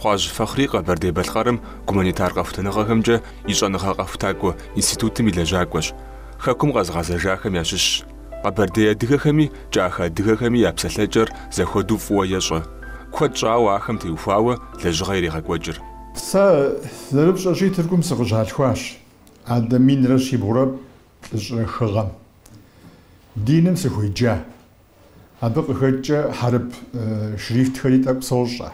Хъуажь Фэхъри Къэбэрдей-Балъкъэрым гуманитар къэхутэныгъэхэмкӏэ и щӏэныгъэ къэхутакӏуэ институтым и лэжьакӏуэщ, хэкум къэзыгъэзэжахэм ящыщщ. Къэбэрдей адыгэхэми кӏахэ адыгэхэми я псалъэкӏэр зэхуэдэу фӏыуэ ещӏэ. Куэд щӏауэ ахэм теухуауэ лэжьыгъэ ирегъэкӏуэкӏыр. Сэ зэрыпщӏэщи Тыркум сыкъыщалъхуащ, адэ минрэ щибгъурэ плӏыщӏрэ хы гъэм. Диным сыхуеджа, Абы къыхэкӏкӏэ хьэрып шрифтхэри тӏэкӏу сощӏэ.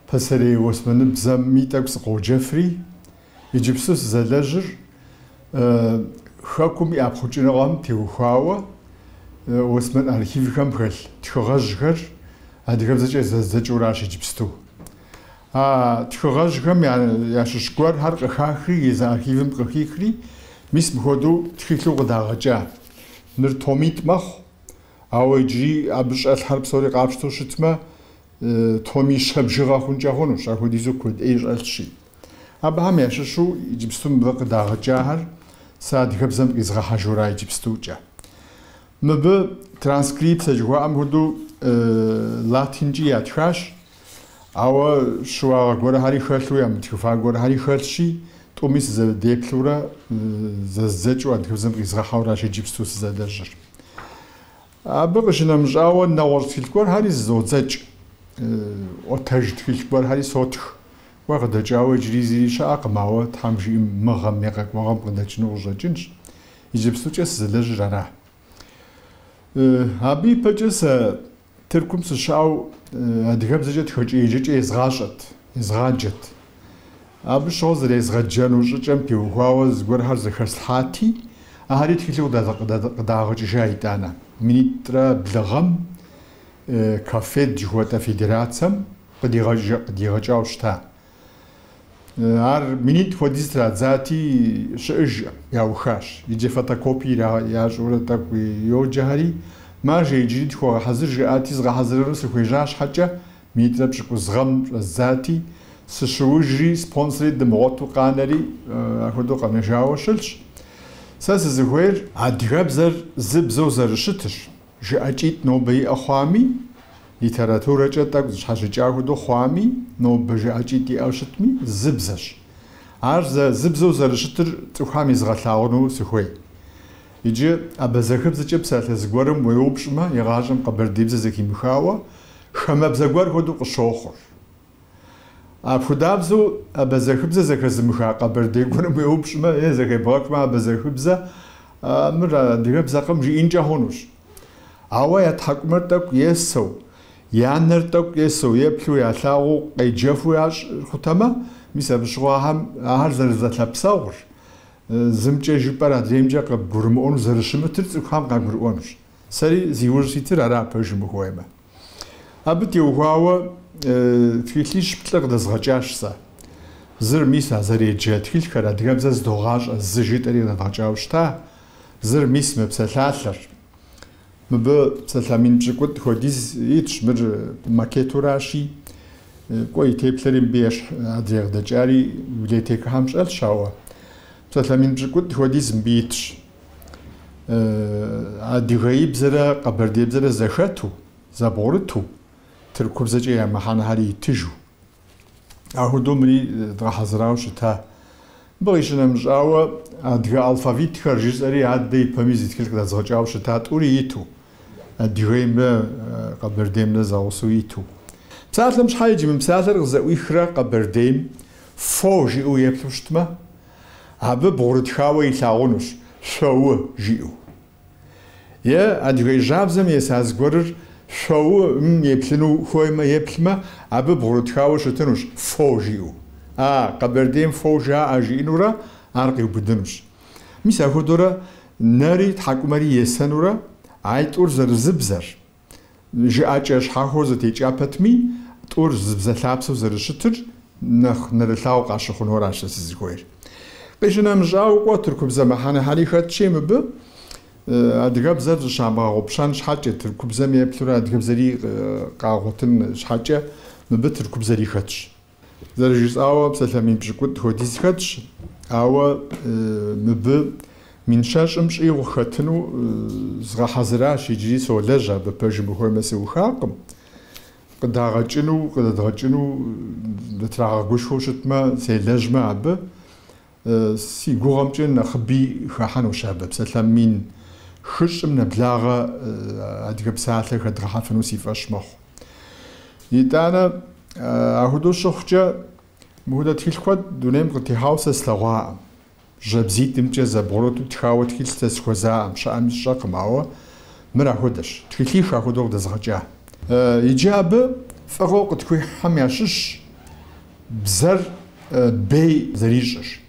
Пасэрей османыбзэми тӏэкӏу сыкъоджэфри, иджыпсту сызэлэжьыр Хэкум и ӏэпхъукӏыныгъэм теухуауэ осман архивхэм хэлъ тхыгъэжьхэр адыгэбзэкӏэ зэздзэкӏыуращ иджыпсту. А тхыгъэжьхэм ящыщ гуэрхэр къыхахри, езы архивым къыхихри, мис мыхуэдэу тхылъу къыдагъэкӏа Мыр томитӏ мэхъу, ауэ иджыри абы щӏэлъхэр псори къапщтэу щытмэ, томищэ бжыгъэ хъункӏэ хъунущ, апхуэдизу куэд ӏей щӏэлъщи. Абыхэм ящыщу иджыпсту мыбы къыдагъэкӏахэр сэ адыгэбзэм къизгъэхьэжура иджыпстукӏэ. Мыбы транскрипцэ жыхуаӏэм хуэдэу латинкӏи ятхащ, Ауэ щыуагъэ гуэрхэри хэлъу, ямытхыфа гуэрхэри хэлъщи, тӏуми сызэдеплъурэ зэздзэкӏыу адыгэбзэм къизгъэхьэуращ иджыпсту сызэлэжьыр. Абы къыщынэмыщӏауэ, нэгъуэщӏ тхылъ гуэрхэри зызодзэкӏ, ӏуэтэж тхылъ гуэрхэри сотх. Уэ къыдэкӏауэ иджыри зыри щыӏэкъым, ауэ, Тхьэм жиӏэм, мы гъэм е къэкӏуэгъэм къыдэкӏыну къыщӏэкӏынщ. Иджыпстукӏэ сызэлэжьыр ара. Абы ипэкӏэ сэ Тыркум сыщыӏэу адыгэбзэкӏэ тхэкӏэ еджэкӏэ езгъащӏэт, езгъаджэт. Абы щыгъуэ зэрезгъэджэну щӏыкӏэм теухуауэ зыгуэрхэр зэхэслъхьати, ахэри тхылъу къыдагъэкӏыжа итӏанэ. Минитӏрэ блы гъэм КАФФЕД жыхуэтӏэ федерацэм къыдигъэкӏауэ щыта. Ар минитӏ хуэдиз традзати, щыӏэжкъым, яухащ. Иджы фотокопие ящӏурэ тӏэкӏу йоджэхэри, маржэ, иджыри тхуэгъэхьэзыр, жаӏати, згъэхьэзырыну сыхуежьа щхьэкӏэ, минитӏрэ пщыкӏуз гъэм щӏэздзати, сыщыужри, спонсори дымыгъуэту къанэри, апхуэдэу къэнэжауэ щылъщ. Сэ сызыхуейр адыгэбзэр зы бзэу зэрыщытырщ. Жыӏэкӏитӏ нобэ иӏэ хъуами, литературэкӏэ тӏэкӏу зыщхьэщыкӏа хуэдэу хъуами, нобэ жыӏэкӏитӏ иӏэу щытми, зы бзэщ. Ар зэ зы бзэу зэрыщытыр цӏыхухэм езгъэлъагъуну сыхуей. Иджы абазэхыбзэкӏэ псалъэ зыгуэрым уеупщӏмэ, игъащӏэм къэбэрдеибзэ зэхимыхауэ, хамэбзэ гуэр хуэдэу къыщохъур. Апхудабзэу абазэхыбзэ зэхэзымыха къэбэрдей гуэрым уеупщӏмэ е зэхебгъэхмэ абазэхыбзэ мыр адыгэбзэкъым жиӏинкӏэ хъунущ. Ауэ я тхьэкӏумэр тӏэкӏу есэу, я нэр тӏэкӏу есэу еплъу ялъагъуу къеджэфу ящӏыр хутэмэ, мис абы щыгъуэ ахэм ахэр зэрызэлъэпсэгъур, зымкӏэ жыпӏэр адреймкӏэ къыбгурымыӏуэну зэрыщымытыр цӏыхухэм къагурыӏуэнущ. Сэри зи ужь ситыр ара пэжым ухуеймэ. Абы теухуауэ тхылъищ плӏы къыдэзгъэкӏащ сэ. Зыр мис а зэреджэ тхылъхэр адыгэбзэ здогъащӏэ зы жытӏэри къыдэдгъэкӏауэ щыта, зыр мис мы псалъалъэр. Мыбы псалъэ мин пщыкӏутӏ хуэдиз итщ, мыр макетуращи, кӏуэ и теплъэри мыбы ещхь, адрей къыдэкӏари библиотекэхэм щӏэлъщ, ауэ псалъэ мин пщыкӏутӏ хуэдиз мыбы итщ. адыгеибзэрэ къэбэрдейбзэрэ зэхэту, зэбгъурыту, тыркубзэкӏэ я мыхьэнэхэр итыжу. Ахуэдэу мыри дгъэхьэзырауэ щыта. Мыбы къищынэмыщӏауэ, адыгэ алфавитхэр жысӏэри адэ ипэми зы тхылъ къыдэзгъэкӏауэ щыта тӏури иту, адыгеймрэ къэбэрдеймрэ зэгъусэу иту. Псалъэм щхьэ иджы мы псалъэр къызэӏуихрэ къэбэрдейм фо жиӏэу еплъу щытмэ, абы бгъурытхауэ илъагъунущ шъоу жиӏэу. Е Адыгей жьабзэм еса зыгуэрыр шъоу-м еплъыну хуеймэ, еплъмэ, абы бгъурытхауэ щытынущ фоу жиӏэу. А, Къэбэрдейм фоу жаӏэ жиӏэнурэ ар къиубыдынущ. Мис ахуэдэурэ нэри тхьэкӏумэри есэнурэ айтӏур зэрызыбзэр, Жыӏэкӏэ щхьэхуэу зэтекӏа пэтми, тӏур зыбзэлъапсэу зэрыщытыр нэхъ нэрылъагъуу къащыхъунуэращ сэ сызыхуейр. Къищынэмыщӏауэ кӏуэ, тыркубзэ мыхьэнэхьэри хэтщи мыбы, адыгэбзэр зыщамыгъэгъупщэн щхьэкӏэ, тыркубзэм еплъурэ адыгэбзэри къагъуэтын щхьэкӏэ мыбы тыркубзэри хэтщ. Зэрыжысӏауэ псалъэ мин пщыкӏутӏ хуэдиз хэтщ, ауэ мыбы мин щэщӏым щӏигъу хэтыну згъэхьэзыращ иджыри солэжь абы, пэжым ухуеймэ сыухакъым, къыдагъэкӏыну, къыдэдгъэкӏыну дытрагъэгушхуэу щытмэ, селэжьмэ абы. Си гугъэмкӏэ нэхъыби хэхьэнущ абы псалъэ мин хыщӏым нэблагъэ адыгэ псалъэ хэдгъэхьэфыну си фӏэщ мэхъу. Итӏанэ, ахуэдэу щыхъукӏэ, мыхуэдэ тхылъ куэд дунейм къытехьауэ сэ слъэгъуаӏэм. Жьабзитӏымкӏэ зэбгъурыту тхауэ тхылъ сэ схуэзаӏэм, щыӏэми сщӏэкъым, ауэ мыр ахуэдэщ, тхылъих ахуэдэу къыдэзгъэкӏа. Иджы абы фӏыгъэу къытхуихьхэм ящыщщ. Бзэр бей зэрищӏырщ.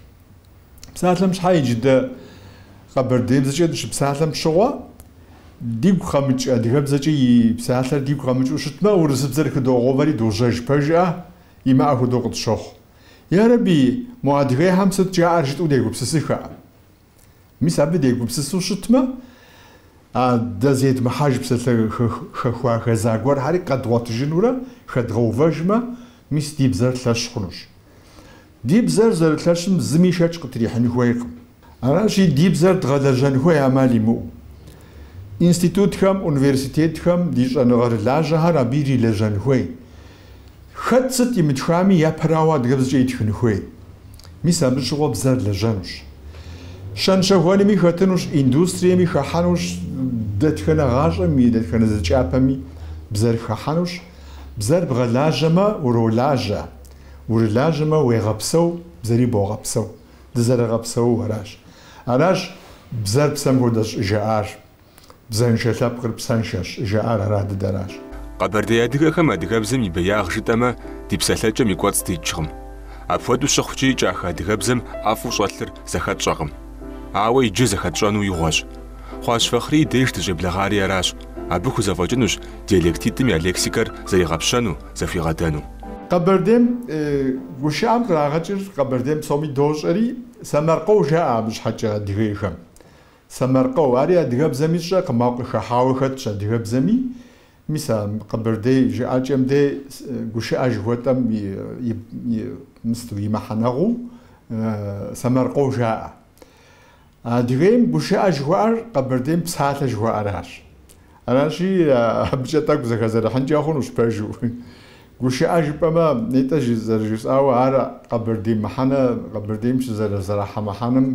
Псалъэм щхьэ иджы дэ къэбэрдеибзэкӏэ дыщыпсалъэм щыгъуэ, дигу къэмыкӏ адыгэбзэкӏэ и псалъэр дигу къэмыкӏыу щытмэ, урысыбзэр хыдогъэувэри дожьэж пэжыӏэ, имыӏэ хуэдэу къытщохъу. Ярэби, мо адыгейхэм сыт жаӏэр жытӏэу дегупсысыхэ. Мис абы дегупсысу щытмэ, а дэ зедмыхьэж псалъэ хэхуа хэза гуэрхьэри къэдгъуэтыжынурэ хэдгъэувэжмэ, мис ди бзэр лъэщ хъунущ. Ди бзэр зэрылъэщым зыми шэч къытрихьын хуейкъым. Аращи, ди бзэр дгъэлэжьэн хуей ӏэмал имыӏэу. Институтхэм, университетхэм ди щӏэныгъэрылажьэхэр абы ирилэжьэн хуей, Хэт сыт имытхами, япэрауэ адыгэбзэкӏэ итхын хуей. Мис абы щыгъуэ бзэр лэжьэнущ. Щэн-щэхуэнми хэтынущ, индустриеми хэхьэнущ, дэтхэнэ гъащӏэм и дэтхэнэ зы кӏапэми бзэр хэхьэнущ. Бзэр бгъэлажьэмэ, уролажьэ, урылажьэмэ, уегъэпсэу, бзэри богъэпсэу. Дызэрыгъэпсэууэ аращ. Аращ бзэр псэм хуэдэщ щӏыжаӏар. Бзэншэ лъэпкъыр псэншэщ, жаӏар ара дыдэращ. Къэбэрдей адыгэхэм адыгэбзэм и беягъ жытӏэмэ, ди псэлъэкӏэм и кӏуэцӏ дикӏкъым. Апхуэдэу щыхъукӏи, кӏахэ адыгэбзэм ӏэфӏу щӏэлъыр зэхэтщӏэкъым. Ауэ иджы зэхэтщӏэну игъуэщ. Хъуащ Фэхърий деж дыщӏеблэгъари аращ, абы хузэфӏэкӏынущ диалектитӏым я лексикэр зэригъэпщэну, зэхуигъэдэну. Къэбэрдейм гушыӏэм кърагъэкӏыр къэбэрдейм псоми дощӏэри, сэмэркъэу жаӏэ абы щхьэкӏэ адыгейхэм. Сэмэркъэу, ари адыгэбзэми сщӏэркъым, ауэ къыхэхьауэ хэтщ адыгэбзэми, мис а къэбэрдей жыӏэкӏэм де гушыӏэ жыхуэтӏэм и мысту, и мыхьэнэгъуу Сэмэркъэу жаӏэ. Адыгейм гушыӏэ жыхуаӏэр къэбэрдейм псалъэ жыхуаӏэращ. Аращи, абыкӏэ тӏэкӏу зэхэзэрыхьынкӏэ хъунущ пэжу. Гушыӏэ жыпӏэмэ, нетӏэ зэрыжысӏауэ, ар къэбэрдей мыхьэнэ, къэбэрдейм щызэрахьэ мыхьэнэм,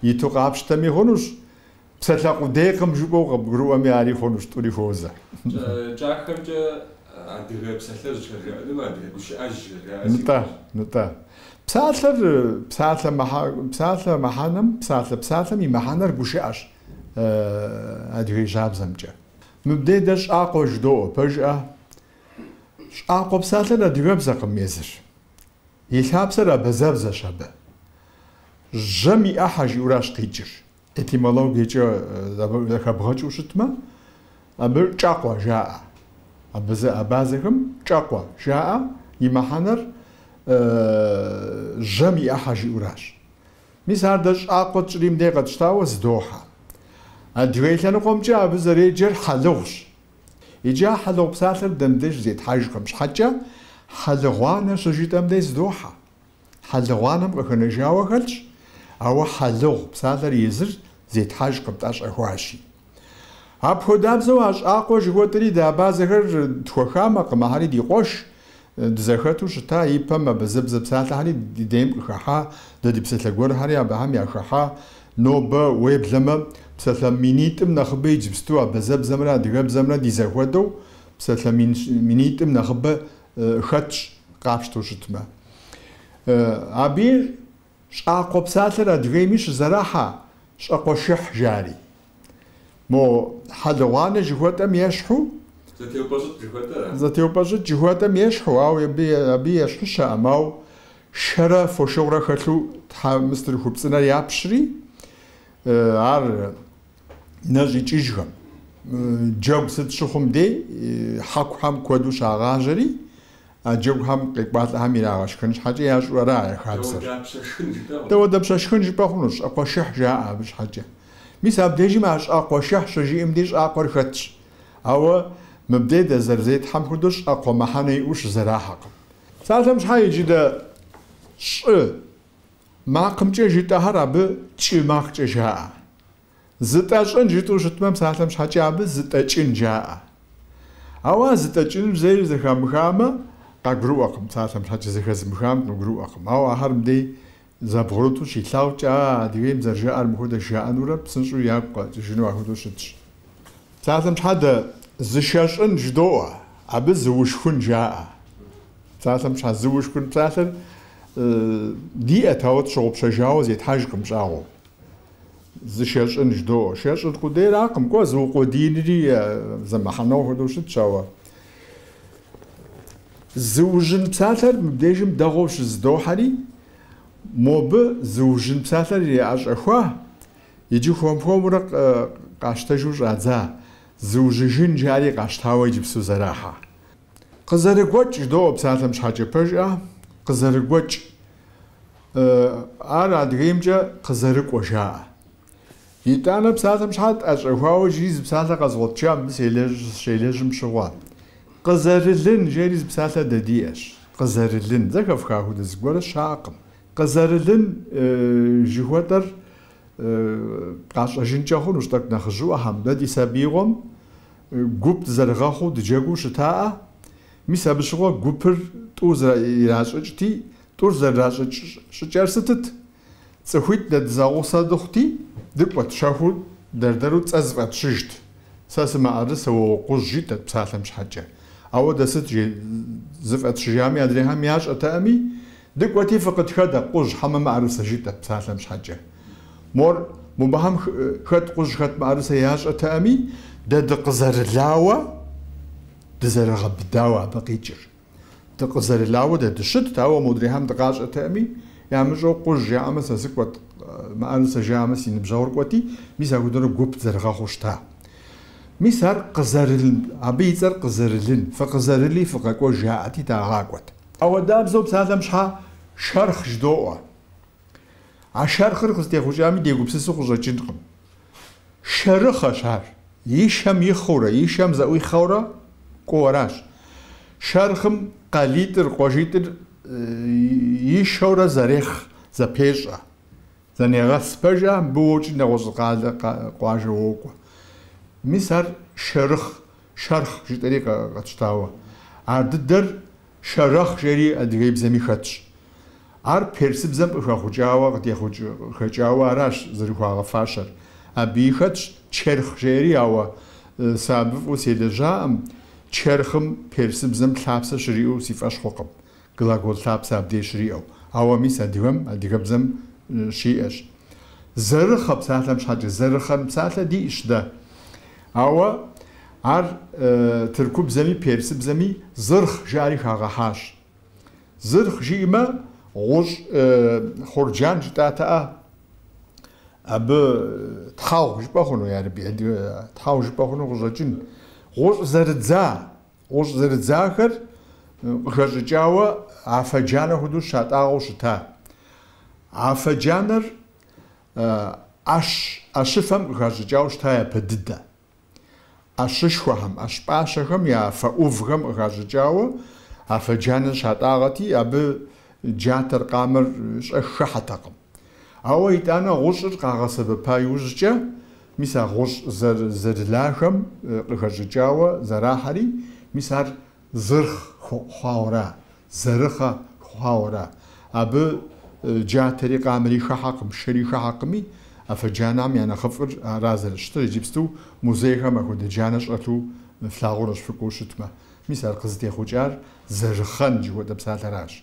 Иту къапщтэми хъунущ, псалъэ къудейкъым жыпӏэу къыбгурыӏуэми ари хъунущ, тӏури хуозэ. Кӏахэмкӏэ адыгэ псалъэ зыщӏэжаӏэным адыгэ гущыӏэ зыщӏэжаӏэ сигу Нытӏэ, илъщ. нытӏэ. Псалъэр, псалъэ мыхьэ, псалъэ мыхьэнэм, псалъэ псалъэм и мыхьэнэр гущыӏэщ адыгей жьабзэмкӏэ. Мыбдей дэ щӏакъуэ жыдоӏуэ, пэжыӏэ? Щӏакъуэ псалъэр адыгэбзэкъым езыр. И лъапсэр абэзэбзэщ абы. Жьэм и ӏыхьэ жиӏэуращ къикӏыр. Этимологиекӏэ зэхэбгъэкӏыу щытмэ, абы кӏэкъуэ жаӏэ. Абызэ абазэхэм кӏэкъуэ жаӏэ, и мыхьэнэр жьэм и ӏыхьэ жиӏэуращ. Мис ар дэ щӏакъуэ тщӏри мыдэ къэтщтауэ зыдохьэ. Адыгей лъэныкъуэмкӏэ абы зэреджэр хьэлыгъущ. Иджы а хьэлыгъу псалъэр дэ мыбдеж зетхьэжкъым щхьэкӏэ, хьэлыгъуанэ щыжытӏэм дей зыдохьэ. Хьэлыгъуанэм къыхэнэжауэ хэлъщ, ауэ хьэлыгъу псалъэр езыр зетхьэжкъым, тӏэщӏэхуащи. Апхуэдабзэу а щӏакхъуэ жыхуэтӏри дэ абазэхэр тхуэхамэкъым, ахэри ди къуэш, Дызэхэту щыта ипэм абазэбзэ псалъэхэри ди дейм къыхэхьа, дэ ди псалъэ гуэрхэри абыхэм яхэхьа. Нобэ, уеблэмэ, псалъэ минитӏым нэхъыбэ иджыпсту абазэбзэмрэ адыгэбзэмрэ ди зэхуэдэу псалъэ минитӏым нэхъыбэ хэтщ, къапщтэу щытмэ. Абы Щӏакхъуэ псалъэр Адыгейми щызэрахьэ щӏэкхъуэшыхь жари. Мо хьэлыгъуанэ жыхуэтӏэм ещхьу. Зэтеупӏэщӏыкӏ жыхуэтӏэм ещхьу, ауэ абы ещхьу щыӏэм, ауэ шэрэ фошыгъурэ хэлъу тхьэ мыстыр хупцӏынэр япщри, ар нэщӏикӏыжхэм, джэгу сыт щыхъум дей, хьэкухэм куэду щагъажьэри, А джэгухэм къекӏуалӏэхэм ирагъэшхэн щхьэкӏэ ящӏу ара я хабзэр? Дауэдапщэ шхын жыпӏэ хъунущ, щӏэкхъуэшыхь жаӏэ абы щхьэкӏэ. Мис абдежым а щӏэкхъуэшыхь щыжиӏэм ди щӏакхъуэр хэтщ. Ауэ мыбдей дэ зэрызетхьэм хуэдэу щӏакхъуэ мыхьэнэ иӏэу щызэрахьэкъым. Псалъэм щхьэ иджы дэ щӏы макъымкӏэ жытӏэхэр абы кӏы макъкӏэ жаӏэ? Зытӏэщӏын жытӏэу щытмэ, псалъэм щхьэкӏэ абы зытӏэкӏын жаӏэ. Ауэ а зытӏэкӏыныр зэи зэхамыхамэ, къагурыӏуэкъым, псалъэм щхьэкӏэ зэхэзымыхам къыгурыӏуэкъым. Ауэ ахэр мыбдей зэбгъурыту щилъагъукӏэ, а Адыгейм зэрыжаӏэр мыхуэдэ жаӏэнурэ псынщӏэу ягу къэкӏыжыну ахуэдэу щытщ. Псалъэм щхьэкӏэ зышэщӏын жыдоӏуэ, абы зыушхун жаӏэ. Псалъэм щхьэ зыушхун псалъэр диӏэт, ауэ тщыгъупщэжауэ зетхьэжкъым щӏагъуэу. Зышэщӏын ждоӏэ. Шэщӏын къудейракъым, кӏуэ, зыукъуэдиинри зы мыхьэнэу хуэдэу щытщ, ауэ зыужьын псалъэр мыбдежым дэгъуэу щызыдохьэри, мобы зыужьын псалъэр яӏэщӏэхуа иджы хуэм-хуэмурэ къащтэжу щӏадза зыужьыжын жари къащтауэ иджыпсту зэрахьэ. Къызэрыгуэкӏ ждоӏэ псалъэм щхьэкӏэ пэжӏэ, къызэрыгуэкӏ. Ар Адыгеймкӏэ къызэрыкӏуэ жаӏэ. Итӏанэ псалъэм щхьэ тӏэщӏэхуауэ иджы зы псалъэ къэзгъуэтыжа мыбы сщелэжьым щыгъуэ. Къызэрылын жери зы псалъэ дэ диӏэщ. Къызэрылын. Зэхэфха хуэдэ зыгуэрэ щыӏэкъым. Къызэрылын жыхуэтӏэр къащӏэжынкӏэ хъунущ тӏэкӏу нэхъыжьыӏуэхэм. Дэ ди сабиигъуэм гуп дызэрыгъэхъуу дыджэгуу щытаӏэ. Мис абы щыгъуэ гупыр тӏу иращӏыкӏти, Тӏур зэрыдращӏыкӏ щӏыкӏэр сытыт? Цӏыхуитӏ дэ дызэгъусэ дыхъути, дыкӏуэт, щэхуу дэр-дэру цӏэ зыфӏэтщыжт. Сэ сымыӏэрысэ, уэ укъужь, жытӏэт псалъэм щхьэкӏэ. Ауэ дэ сыт зыфӏэтщыжами адрейхэм ящӏэтэкъыми? Дыкӏуэти, фыкъытхэдэ, къужь, хьэмэ мыӏэрысэ, жиӏэт псалъэм щхьэкӏэ. Мор, мобыхэм хэт къужь, хэт мыӏэрысэ ящӏэтэкъыми, дэ дыкъызэрылауэ, дызэрыгъэбыдауэ абы къикӏыр. Дыкъызэрылауэ дэ дыщытт, ауэ модрейхэм дыкъащӏэтэкъыми, ямыщӏэу къужь жаӏэмэ сэ сыкӏуэт, мыӏэрысэ жаӏэмэ си ныбжьэгъур кӏуэти, мис апхуэдэурэ гуп зэрыгъэхъуу щыта. Мис ар къызэрылын, абы и цӏэр къызэрылын, фыкъызэрыли фыкъэкӏуэж жаӏэти, дагъакӏуэт. Ауэдабзэу псалъэм щхьэ шэрхъ жыдоӏуэ. А шэрхъыр къызытехъукӏами дегупсысу къыщӏэкӏынкъым. Шэрыхъэщ ар. И шэм ихъыурэ, и шэм зэӏуихъэурэ кӏуэуэращ. Шэрхъым къалитӏыр, къуажитӏыр ишэурэ зэрехъ, зэпещӏэ. Зэнегъэс пэжӏэ, мыбы уокӏри нэгъуэщӏ къалэ, къуажэ уокӏуэ. Мис ар шэрыхъ, шэрхъ жытӏэри къэтщтауэ. Ар дыдэр. Шэрэхъ жери адыгейбзэми хэтщ. Ар персыбзэм къыхэхъукӏауэ къытехъукӏ къыхэкӏауэ аращ зэрыхуагъэфащэр. Абыи хэтщ черхъ жери, ауэ сэ абы фӏыуэ селэжьакъым, черхъым персыбзэм лъапсэ щыриӏэу си фӏэщ хъукъым, глагол лъапсэ абдей щыриӏэу, ауэ мис адыгэм, адыгэбзэм щиӏэщ. Зэрыхъэ псалъэм щхьэкӏэ, зэрыхъэн псалъэ диӏщ дэ. Ауэ ар тыркубзэми персыбзэми зырхъ жаӏэри хагъэхьащ. Зырхъ жиӏэмэ, гъущӏ хъурджан жытӏатэӏэ, абы тхьэгъу жыпӏэ хъуну, ярэби, адыгэ тхьэгъу жыпӏэ хъуну къыщӏэкӏын. Гъущӏ зэрыдза, гъущӏ зэрыдзахэр къыхэщӏыкӏауэ афэджанэ хуэдэу щатӏагъэу щыта. Афэджанэр. ӏэщ, ӏэщыфэм къыхащӏыкӏауэ щыта япэ дыдэ. ӏэщышхуэхэм, ӏэщ пӏащэхэм я фэ ӏувхэм къыхащӏыкӏауэ афэджанэ щатӏагъэти, абы джатэр, къамэр щӏэх хыхьэтэкъым. Ауэ итӏанэ гъущӏыр къагъэсэбэпа иужькӏэ, мис а гъущӏ зэрылахэм къыхэщӏыкӏауэ зэрахьэри, мис ар Зырхъ хъуауэра, зэрыхъэ хъуауэра, абы джатэри, къамэри хыхьэкъым, шэри хыхьэкъыми, афэджанэхэм я нэхъыфӏыр ара зэрыщытыр, иджыпсту музейхэм апхуэдэ джанэ щӏэлъу флъагъунущ фыкӏуэу щытмэ. Мис ар къызытехъукӏар зэрыхъэн жыхуэтӏэ псалъэращ.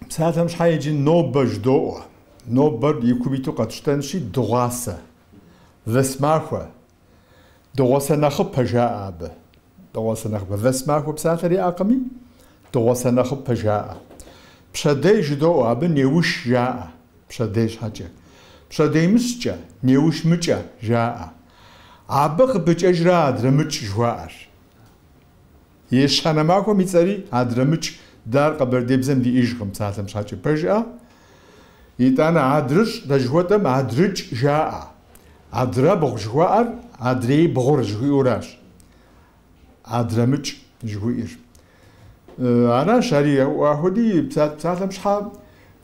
Псалъэм щхьэ иджы нобэ жыдоӏуэ. Нобэр и кум иту къэтщтэнщи, дыгъуасэ, вэсмахуэ, Дыгъуасэ нэхъыпэ жаӏэ абы. Дыгъуасэ нэхъыпэ. Вэсмахуэ псалъэр яӏэкъыми, дыгъуасэ нэхъыпэ жаӏэ. Пщэдей жыдоӏуэ, абы неуш жаӏэ, пщэдей щхьэкӏэ. Пщэдеймыщкӏэ, неушмыкӏэ жаӏэ. Абы къыпыкӏэжрэ адрэмыкӏ жыхуаӏэр. Ещанэ махуэм и цӏэри Адрэмыкӏ, дэ ар къэбэрдейбзэм диӏэжкъым, псалъэм щхьэкӏэ пэжыӏэ. Итӏанэ Адрыщӏ дэ жыхуэтӏэм Адрыкӏ жаӏэ. Адрэбгъу жыхуаӏэр адрей бгъур жыхуиӏэуращ Адрэмыкӏ жыхуиӏэр. Аращ ари ахуэди, псалъэм щхьэ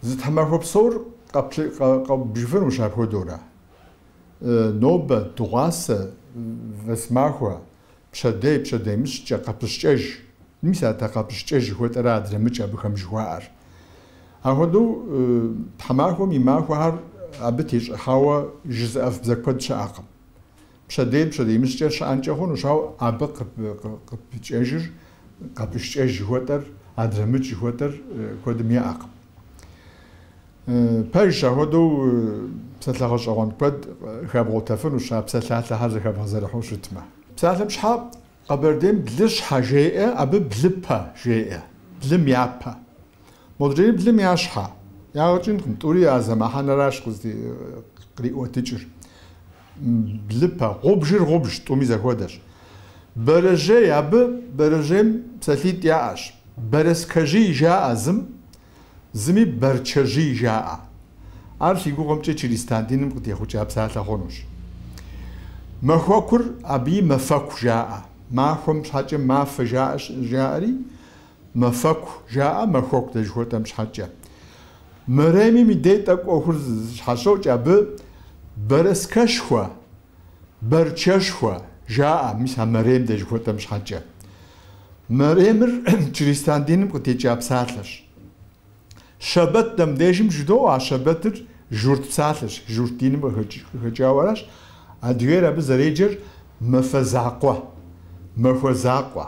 зы тхьэмахуэ псор къэбжыфынущ апхуэдэурэ. Нобэ, дыгъуасэ, вэсмахуэ. Пщэдей, пщэдеймыщкӏэ, къэпыщкӏэж. Мис а дэ къэпыщкӏэж жыхуэтӏэрэ адрэмыкӏ абыхэм жыхуаӏэр. Ахуэдэу тхьэмахуэм и махуэхэр абы тещӏыхьауэ жызыӏэф бзэ куэд щыӏэкъым. Пщэдей, пщэдеймыщкӏэ щыӏэнкӏэ хъунущ, ауэ абы къыпыкӏэжыр, къэпыщкӏэж жыхуэтӏэр, адрэмыкӏ жыхуэтӏэр куэдым яӏэкъым. Пэжщ, ахуэдэу псалъэ гъэщӏэгъуэн куэд хэбгъуэтэфынущ а псалъалъэхэр зэхэбгъэзэрыхьу щытмэ. Псалъэм щхьэ Къэбэрдейм блыщхьэ жеӏэ, абы блыпэ жеӏэ, блым япэ. Модрейр блым я щхьэ. Ягъэ кӏынкъым, тӏури а зы мыхьэнэращ къриӏуэтыкӏыр. Блыпэ. Гъубжыр гъубж, тӏуми зэхуэдэщ. Бэрэжьей, абы бэрэжьейм псалъитӏ яӏэщ. Бэрэскэжий жаӏэ зым, Зыми Бэрчэжий жаӏэ. Ар си гугъэмкӏэ чыристан диным къытехъукӏа псалъэ хъунущ. Махуэкур абыи Мэфэку жаӏэ. Махуэм щхьэкӏэ Мафэ жаӏэ, жаӏэри Мэфэку жаӏэ, махуэку дэ жыхуэтӏэм щхьэкӏэ. Мэремим и дей тӏэкӏу ӏуэхур щхьэщокӏ, абы Бэрэскэшхуэ Бэрчэшхуэ, жаӏэ, мис а Мэрем дэ жыхуэтӏэм щхьэкӏэ. Мэремыр чристан диным къытекӏа псалъэщ. Щэбэт дэ мыбдежым жыдоӏуэ, а щэбэтыр журт псалъэщ, журт диным къыхэкӏауэ аращ, адыгейр абы зэреджэр Мэфэ закъуэ, Махуэ закъуэ.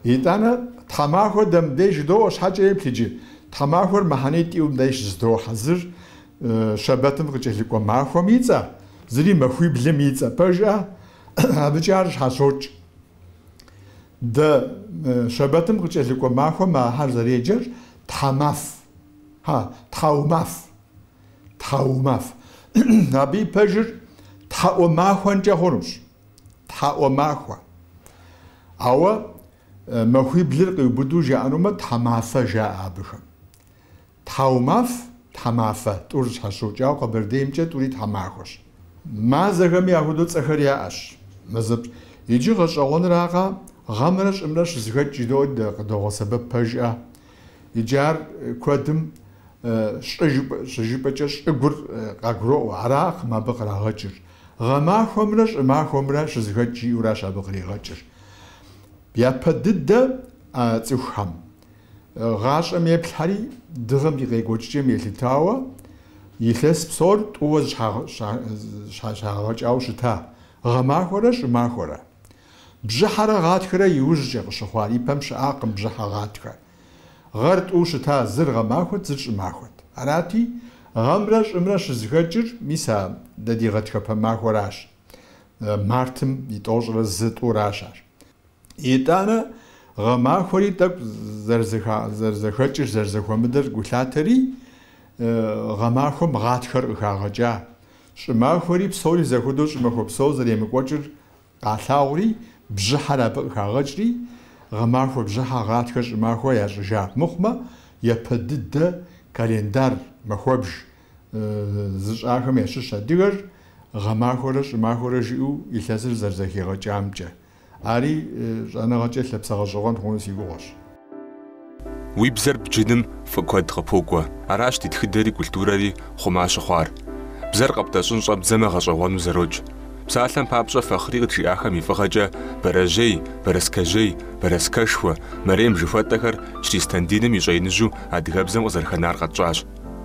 Итӏанэ, тхьэмахуэ дэ мыбдеж жыдоӏуэ щхьэкӏэ еплъ иджы. Тхьэмахуэр мыхьэнитӏ иӏэу мыбдеж зыдохьэ зыр щэбэтым къыкӏэлъыкӏуэ махуэм и цӏэ, зыри махуиблым и цӏэ пэжӏэ, абыкӏэ ар щхьэщокӏ. Дэ щэбэтым къыкӏэлъыкӏуэ махуэм ахэр зэреджэр тхьэмаф, хьа, тхьэумаф, тхьэумаф. Абы и пэжыр тхьэӏуэмахуэнкӏэ хъунущ. Тхьэӏуэмахуэ. Ауэ махуиблыр къиубыду жаӏэнумэ, тхьэмафэ жаӏэ абыхэм. Тхьэумаф, тхьэмафэ, тӏур щхьэщокӏ, ауэ къэбэрдеймкӏэ тӏури тхьэмахуэщ. Мазэхэми ахуэдэу цӏэхэр яӏэщ. Мэзэпщ. Иджы гъэщӏэгъуэныракъэ, гъэмрэ щӏымрэ щызэхэкӏ жыдоӏэ дэ къыдогъэсэбэп пэжӏэ. Иджы ар куэдым щӏы жыпӏэкӏэ щӏыгур къагуроӏуэ, аракъым абы кърагъэкӏыр. Гъэмахуэмрэ щӏымахуэмрэ щызэхэкӏ жиӏэуращ абы къригъэкӏыр. Япэ дыдэ а цӏыхухэм гъащӏэм еплъхэри, дыгъэм и къекӏуэкӏыкӏэм елъытауэ, илъэс псор тӏууэ зэщхьэщагъэкӏауэ щыта, гъэмахуэрэ щӏымахуэрэ. Бжьыхьэрэ гъатхэрэ иужькӏэ къыщыхъуар, ипэм щыӏакъым бжьыхьэ гъатхэ. Гъэр тӏууэ щыта зыр гъэмахуэт, зыр щӏымахуэт. Арати, гъэмрэ щӏымрэ щызэхэкӏыр мис а дэ ди гъатхэпэ махуэращ. Мартым и тӏощӏрэ зы тӏуращ ар. Итӏанэ гъэмахуэри тӏэкӏу зэрызэхэкӏыр, зэрызэхуэмыдэр гу лъатэри, гъэмахуэм гъатхэр къыхагъэкӏа. Щӏымахуэри псори зэхуэдэу щӏымахуэ псо зэремыкӏуэкӏыр Къалъагъури, бжьыхьэр абы къыхагъэкӏри, гъэмахуэ бжьыхьэ гъатхэ щӏымахуэ ящӏыжа мыхъумэ, япэ дыдэ календар махуэбж зыщӏахэм ящыщ адыгэр, гъэмахуэрэ щӏымахуэрэ жиӏэу илъэсыр зэрызэхигъэкӏамкӏэ. Ари щӏэныгъэкӏэ лъэпсэ гъэщӏэгъуэн хъуну си гугъуэщ. Уи бзэр бджыным фӏы куэд къыпокӏуэ. Аращ ди тхыдэри культурэри хъума щыхъуар. Бзэр къэптӏэщӏын щӏэбдзэмэ гъэщӏэгъуэну зэрокӏ. Псалъэм папщӏэ, Фахъри къыджиӏахэм и фӏыгъэкӏэ бэрэжьей, бэрэскэжьей, бэрэскэшхуэ, мэрем жыхуэтӏэхэр чыристан диным и щӏэиныжьу адыгэбзэм къызэрыхэнар къэтщӏащ.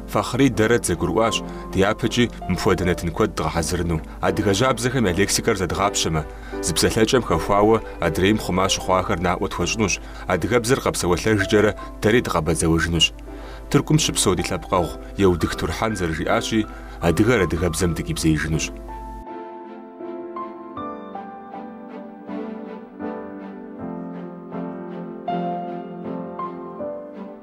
Фахъри дэрэ дызэгурыӏуащ дяпэкӏи мыпхуэдэ нэтын куэд дгъэхьэзырыну. Адыгэ жьабзэхэм я лексикэр зэдгъапщэмэ, Зы псалъэкӏэм хэхуауэ адрейм хъума щыхъуахэр наӏуэ тхуэщӏынущ, адыгэбзэр къэпсэуэлъэжкӏэрэ дэри дыкъэбэдзэуэжынущ. Тыркум щыпсэу ди лъэпкъэгъу Еутых Турхьэн зэрыжиӏащи, адыгэр адыгэбзэм дыкъибзеижынущ.